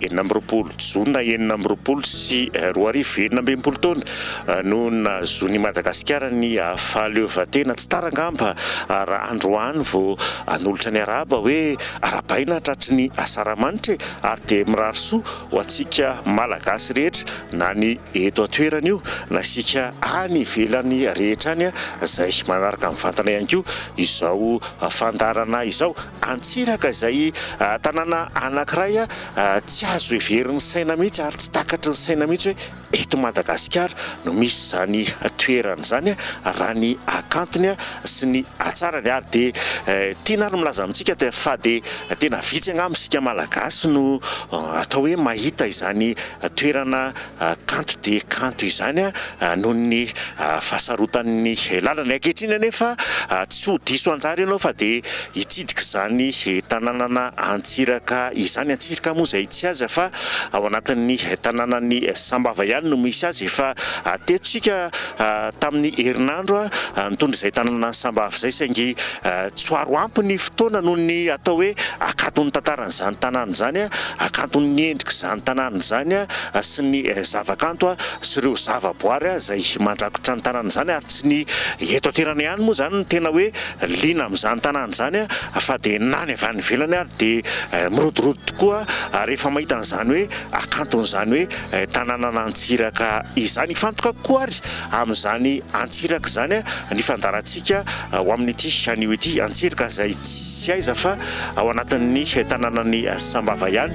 enina amby roapolo jona enina amby roapolo sy roa arivo, enina amby enimpolo taona no nahazoan' i Madagasikara ny fahaleovantena. Tsy tara angamba raha androany vao hanolotra ny arahaba hoe arahabaina tratry ny Asaramanitra e! ary dia mirary soa ho antsika Malagasy rehetra na ny eto an-toerana io na isika any ivelany rehetra any izay manaraka mivantana ihany koa izao fandaharana izao. Antsiraka izay tanàna anankiray tsy azo heverin'ny saina mihitsy ary tsy takatry ny saina mihitsy hoe eto Madagasikara no misy izany toerana izany raha ny hakantony sy ny hatsarany ary dia tiana ary milaza amintsika fa dia tena vitsy angamba isika Malagasy no atao hoe mahita izany toerana kanto dia kanto izany noho ny fahasarotan'ny lalana. Ankehitriny anefa tsy ho diso anjara ianao fa dia hitsidika izany tanànana Antsiraka izany. Antsiraka moa izay tsy aiza fa ao anatin'ny tanànan'i Sambava ihany no misy azy. Efa teto isika tamin'ny herinandro nitondra izay tanàna an'i Sambava izay saingy tsy ho aro ampy ny fotoana noho ny atao hoe hakanton'ny tantaran'izany tanàna izany, hakanton'ny endrik'izany tanàna izany. sy ny zavakanto sy ireo zavaboary izay mandrakotra ny tanàna izany ary tsy ny eto an-toerana ihany moa izany no tena hoe liana amin'izany tanàna izany fa dia na ny avy any ivelany ary dia mirodorodo tokoa rehefa mahita an'izany hoe hakanton'izany hoe tanànan'Antsiraka izany. Hifantoka kokoa ary amin'izany Antsiraka izany ny fandaharantsika ho amin'ity anio ity. Antsiraka izay tsy aiza fa ao anatin'ny tanànan'i Sambava ihany.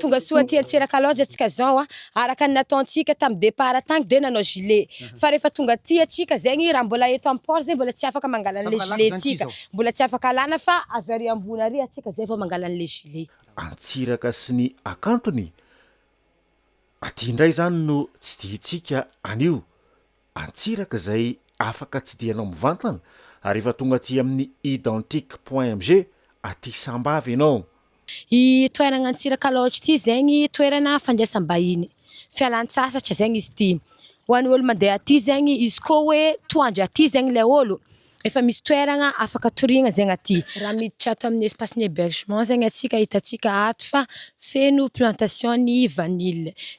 Tonga soa aty Antsiraka Lodge antsika zao a! araka ny nataontsika tamin'ny départ tany dia nanao gilet, fa rehefa tonga aty antsika zegny raha mbola eto amin'ny port zay mbola tsy afaka mangala an'ilay gilet tsika, mbola tsy afaka alana fa avy ary ambony ary antsika zay vao mangala an'ilay gilet. Antsiraka sy ny hakantony aty indray zany no tsidihintsika anio Antsiraka izay afaka tsidihanao mivantana ary efa tonga aty amin'ny Identique Point MG aty Sambava ianao. I toeragna Antsiraka Lodge ity zegny toerana fandraisam-bahiny, fialan-tsasatra zegny izy ity. Ho an'ny ôlo mandeha aty zegny, izy koa hoe toa andry aty zegny ilay ôlo, efa misy toeragna afaka toriagna zegny aty. Raha miditra ato amin'ny espace-n'ny hébergement zegny antsika, hitantsika ato fa feno plantation-n'ny vanille.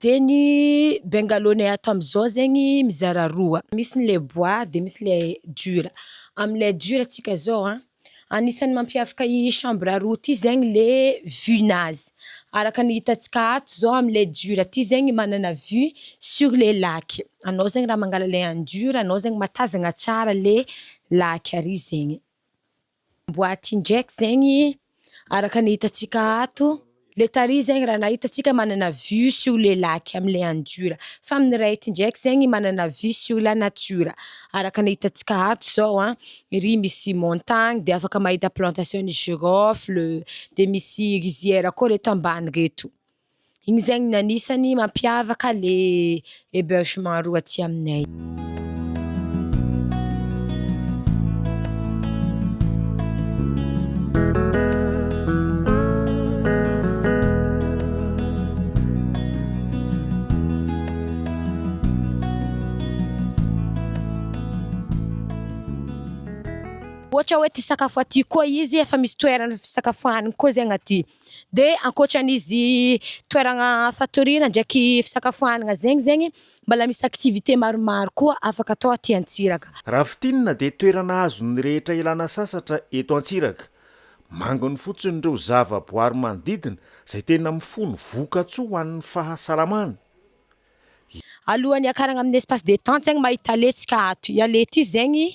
Dia ny bengalôney ato amin'izao zegny mizara roa, misy ny le bois de misy le dur, amle dur tsika zao an, anisan'ny mampiavaka i chambre roa ty zegny le vue nazy, araka ny hitantsika ato zao amle dur ty zegny manana vue sur le lac, anao zegny raha mangala le an'i dur anao zegny mahatazana tsara le lac ary zegny. boaty injects zegny araka ny hitantsika ato, le tary zegny raha hitantsika manana vue sur le lac amle andura fa amin'ny ray eto injects zegny manana vue sur la nature araka ny hitantsika ato zao an, ery misy montagne de afaka mahita plantation ny girofle de misy riziera koa reto ambany reto. Igny zegny ny anisany mampiavaka le hebergement roa aty aminay. Ohatra hoe te hisakafo aty koa izy efa misy toerana fisakafoanana koa zegny aty. dia ankoatran'izy toerana fatoriana ndraiky fisakafoanana zegny zegny mbola misy activité maromaro koa afaka atao aty Antsiraky. Raha fintinina dia toerana azon'ny rehetra ialana sasatra eto Antsiraky. Manginy fotsiny ireo zava-boary manodidina izay tena mifono voka-tsoa ho an'ny fahasalamana. Alohan'ny hiakarana amin'ny espace détente zegny mahita letsika ato, i Aleti zegny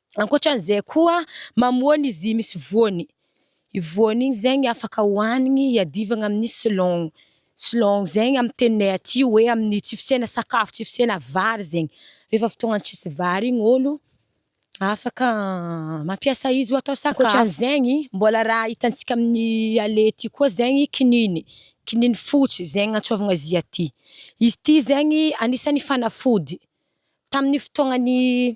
Ankoatra an'izay koa, mamoana izy io misy voany. Io voany io zegny afaka hohanigny hiadivagna amin'ny selon. Selon zegny amin'ny teninay aty hoe amin'ny tsy fisiana sakafo, tsy fisiana vary zegny. Rehefa fotoagna tsisy vary igny ôlo afaka mampiasa izy ho atao sakafo. Ankoatra an'izegny, mbôla raha hitantsika amin'ny allée aty koa zegny kininigny, kininigny fotsy zegny agnantsôvigna azy aty. Izy ity zegny agnisan'ny fanafody. Tamin'ny fotoagnan'ny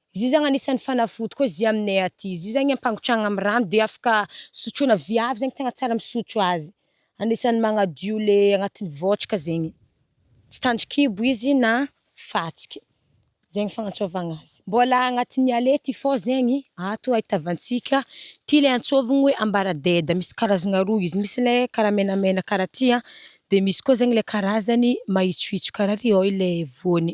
Izy zany anisany fanafody koa izy aminay aty izy zany ampangotrahana amin'ny rano de afaka sotroina viavy zany tegna tsara misotro azy anisany magnadio le agnatin'ny vôtraka zegny tsy tandrikibo izy na fatsiky zegny fagnantsôvagna azy mbôla agnatin'ny aller ty fô zegny ato ahitavantsika ty le antsôvigny hoe ambaradeda misy karazagna roa izy misy le karaha menamena karaha ty a de misy koa zegny le karazany mahitsohitso karaha ry ôy le voany.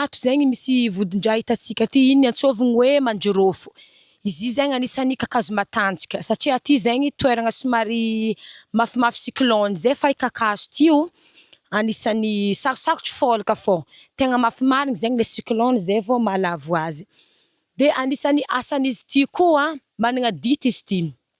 Ato zegny misy vodin-draha hitantsika aty, igny antsôvigny hoe manjirôfo. Izy i zegny anisan'ny kakazo matanjaka satria aty zegny toeragna somary mafimafy cyclone zay fa i kakazo ty o, anisan'ny sarosarotro fôlaka fô. Tegna mafy marigny zegny le cyclone zay vô mahalavo azy. De anisan'ny asan'izy ty koa, managna dity izy ty.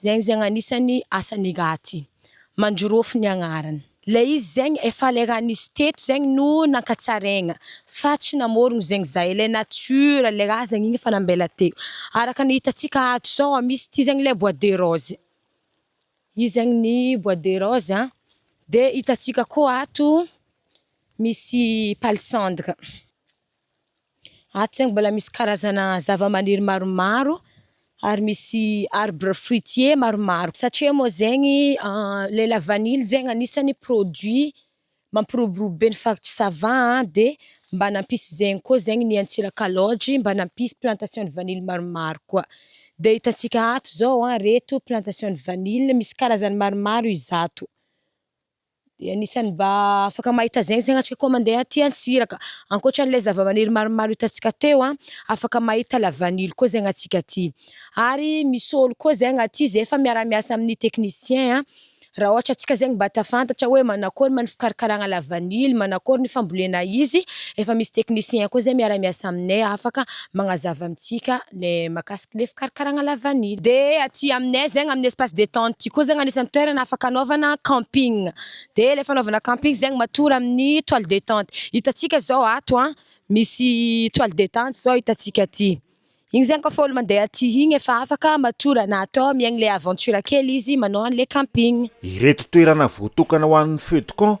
Zegny zegny anisan'ny asan'i Gati. Mandrorofo ny agnarany. Ilay izy zegny efa ilay raha nisy teto zegny no nankatsaraigna fa tsy namorogno zegny za, ilay nature ilay raha zegny igny efa nambela teo. Araka ny hitantsika ato zao a, misy ity zegny ilay bois de rose, io zegny ny bois de rose a, de hitantsika koa ato misy palissandre. Ato zany mbola misy karazana zavamaniry maromaro ary misy arbre fruitier maromaro satria moa zegny le la vanille zegny anisany produit mampiroborobo be ny faritry sava de mba nampisy zegny koa zegny ny antsirakalaogy mba nampisy plantation de vanille maromaro koa de hitantsika ato zao reto plantation de vanille misy karazany maromaro izato. dia anisan'ny mba afaka mahita zegny zegny antsika koa mandeha aty antsiraka ankoatran'ilay zavamaniry maromaro hitantsika teo an afaka mahita la vanille koa zegny antsika aty ary misy ôlo koa zegny aty zay efa miara miasa amin'ny technicien an raha ohatra antsika zegny mba te hafantatra hoe manakôry ma ny fikarakaragna la vanille manakôry ny fambolena izy efa misy technicien koa zay miara miasa aminay afaka magnazava amintsika le makasika le fikarakaragna la vanille. De aty aminay zegny amin'ny espace detente ty koa zegny agnisan'ny toerana afaka anaovana camping, de le fanaovana camping zegny matory amin'ny toile detente, hitantsika zao ato an misy toile detente zao hitantsika aty, igny zegny kôfa olo mandeha aty igny efa afaka matory anaty ao miaigny le aventure kely izy manao an'le camping. Ireto toerana voatokana ho an'ny feux de camp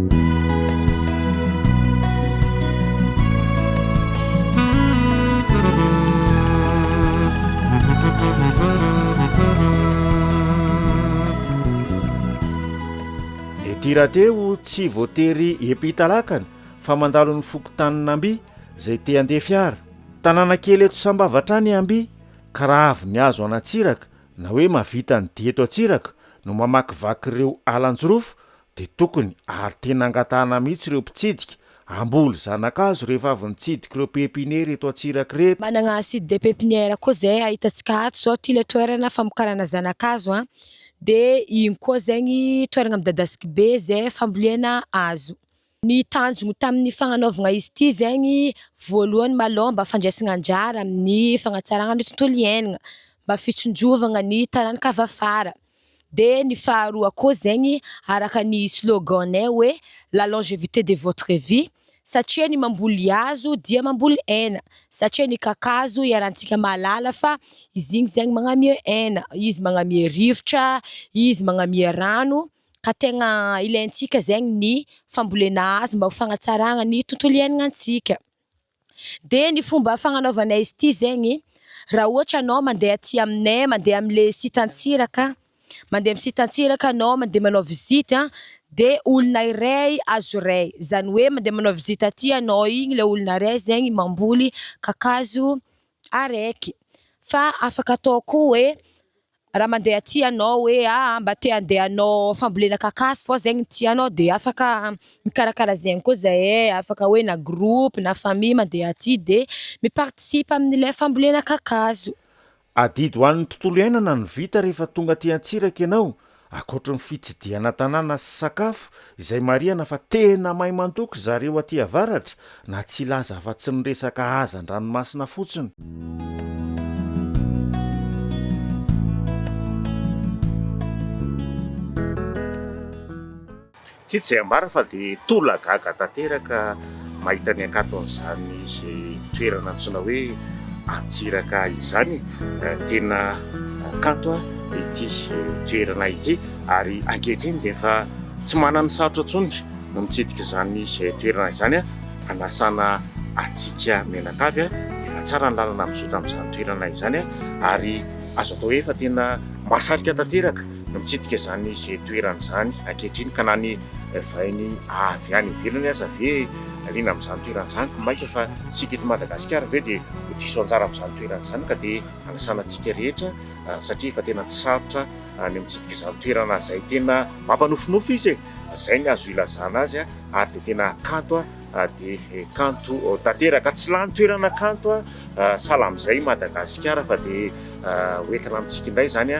Ity rahateo tsy voatery epitalakana fa mandalo ny fokontanin'Amby izay te handeha fiara. Tanàna kely eto Sambava hatrany Amby ka raha avy ny hazo an'Antsiraka na hoe mahavita ny dia eto Antsiraka no mamakivaky ireo alan-jirofo Dia tokony ary tena angatahana mihitsy ireo mpitsidika, hamboly zanakazo rehefa avy nitsidika ireo pepiniera eto Antsiraky ireto. Manana site de pepinière koa izay ahitantsika ato izao ity ilay toerana famokarana zanakazo an, dia iny koa zegny toerana midadasika be izay fambolena hazo. Ny tanjogny tamin'ny fagnanaovagna izy ity zegny voalohany malôha mba fandraisagna anjara amin'ny fagnatsaragna ny tontolo iainagna, mba fitsinjovagna ny taranaka avy afara. Dia ny faharoa koa zegny araka ny slogan-nay hoe la longevité de votre vie satria ny mamboly hazo dia mamboly aina satria ny kakazo iarahantsika mahalala fa izy igny zegny magnamia aina, izy magnamia rivotra, izy magnamia rano ka tegna ilaintsika zegny ny fambolena hazo mba ho fagnatsaragna ny tontolo iainagna antsika. dia ny fomba fagnanaovanay izy ity zegny raha ohatra anao mandeha aty aminay mandeha amle site antsiraka mandeha amin'ny site antsiraka anao mandeha manao visite an de olona iray azo iray zany hoe mandeha manao visite aty anao igny le olona iray zegny mamboly kakazo ary eky fa afaka atao koa hoe raha mandeha aty ianao hoe aah mba te handeha hanao fambolena kakazo fa ao izay no tianao dia afaka mikarakara izay ihany koa izahay, afaka hoe na groupe na famille mandeha aty dia mi-participe amin'ilay fambolena kakazo. Adidy ho an'ny tontolo iainana ny vita rehefa tonga aty Antsiraky ianao Ankoatry ny fitsidihana tanàna sy sakafo, izay marihana fa tena maimantoky zareo aty avaratra, na tsy hilaza afa-tsy ny resaka haza an-dranomasina fotsiny. Tsy tsy ambara fa dia tola gaga tanteraka mahita ny hakanton'izany toerana antsoina hoe Antsiraka izany. Tena kanto ity toerana ity ary ankehitriny dia efa tsy manana sarotra intsony ny mitsidika izany toerana izany hanasana hatsiaka mianakavy. Efa tsara ny lalana mizotra amin'izany toerana izany ary azo atao hoe efa tena mahasarika tanteraka. no mitsidika izany toerana izany ankehitriny ka na ny vahiny avy any ivelany aza ve liana amin'izany toerana izany koa mainka fa isika eto Madagasikara ve dia ho diso anjara amin'izany toerana izany ka dia hanasana antsika rehetra satria efa tena tsy sarotra ny mitsidika izany toerana izay tena mampanofinofy izy e! izay ny azo ilazana azy ary dia tena kanto dia kanto tanteraka tsy lany toerana kanto sahala amin'izay Madagasikara fa dia ho entina amintsika indray izany